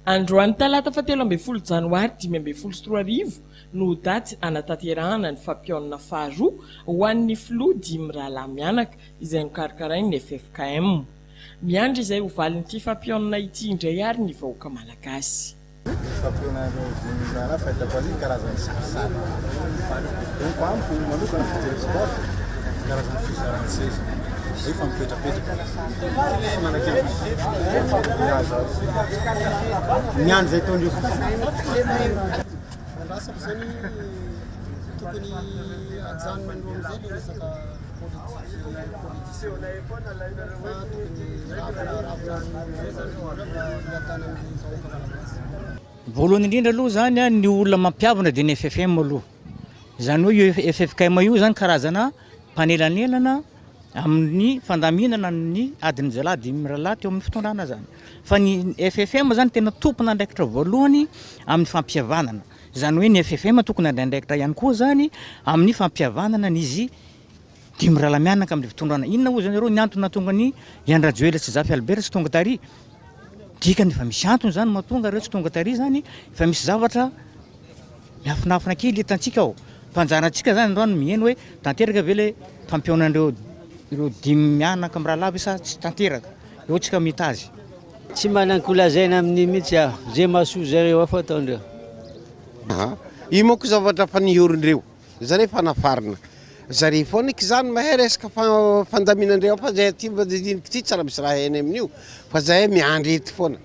Androany talata fahatelo ambin'ny folo janoary dimy ambin'ny folo sy roa arivo no daty hanatanterahana ny fampionana faharoa ho an'ny filoha dimy mirahalahy mianaka izay nokarakarain'ny ffkm. Miandry izay ho valin'ity fampionana ity indray ary ny vahoaka malagasy. Ny fampionan'ireo dimy mirahalahy fahitako aloha ny karazan'ny sarisary amiko manokana fijeriko azy ny karazan'ny fizaran-tseza nefa mipetrapetraka. Voalohany indrindra aloha zany ny olona mampiavona dia ny FFM aloha, izany hoe io ffkm io zany karazana. mpanelanelana amin'ny fandaminana ny adin'jialahy dimy mirahalahy teo amin'ny fitondrana izany. Fa ny FFM izany tena tompon'andraikitra voalohany amin'ny fampihavanana. Izany hoe ny FFM tokony handray andraikitra ihany koa izany amin'ny fampihavanana an'izy dimy mirahalahy mianaka amin'ny fitondrana. Inona hoy izany ireo ny antony nahatonga an'i Ihany Rajoelina sy Zafy Albert tsy tonga tary? Dikany efa misy antony izany mahatonga ireo tsy tonga tary izany, efa misy zavatra Miafinafina kely eto antsika aho fa anjarantsika zany androany ny miheno hoe tanteraka ve le fampionan'ireo ireo dimy mianaka mirahalahy ve sa tsy tanteraka. Eo tsika mita azy. Tsy manana ko lazaina amin'io mihitsy aho. Ze mahasoa zareo ao fa ataondreo. Aha. Io manko zavatra efa niorindreo. Zare efa nafarina. Zare foana eky zany mahay resaka fandaminandreo ao fa zay aty mba didiniko ty tsy raha misy raha hainy amin'io fa zay miandry eto foana.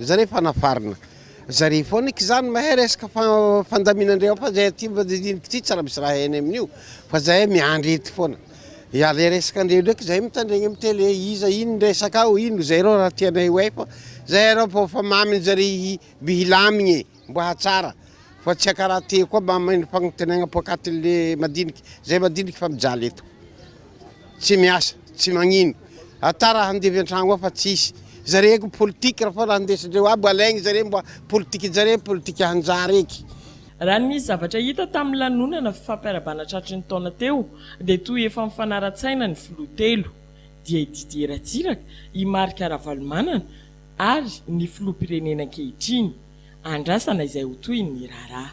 Zare efa nafarina zare foana eky zany mahay resaka fandaminandreo fa zay aty mba didiniko ty tsy raha misy raha hainy amin'io fa zay miandry eto foana ya le resaka andreo ndraiky zay mitandregny amy tele iza ino ny resaka ao ino zay reo raha tianay ho hay fa zay reo fa fa mamy zare i by hilamigny e Mba hahatsara fa tsy akaraty koa mba mahay ny fagnontenaigna poakatin'le madinika. Zay madinika fa mijaly eto. Tsy miasa, tsy magnino. Ata raha handevy antragno ao fa tsisy. Zare ko politika ra foana handesindreo aby alaigny zare mba politikinjare politika hanjary eky. Raha ny nisy zavatra hita tamin'ny lanonana fifampiarabana tratry ny taona teo dia toa efa mifanara-tsaina ny filoha telo, dia i Didier Ratsiraka, i Marc Ravalomanana, ary ny filoham-pirenena ankehitriny andrasana izay ho tohin'ny raharaha.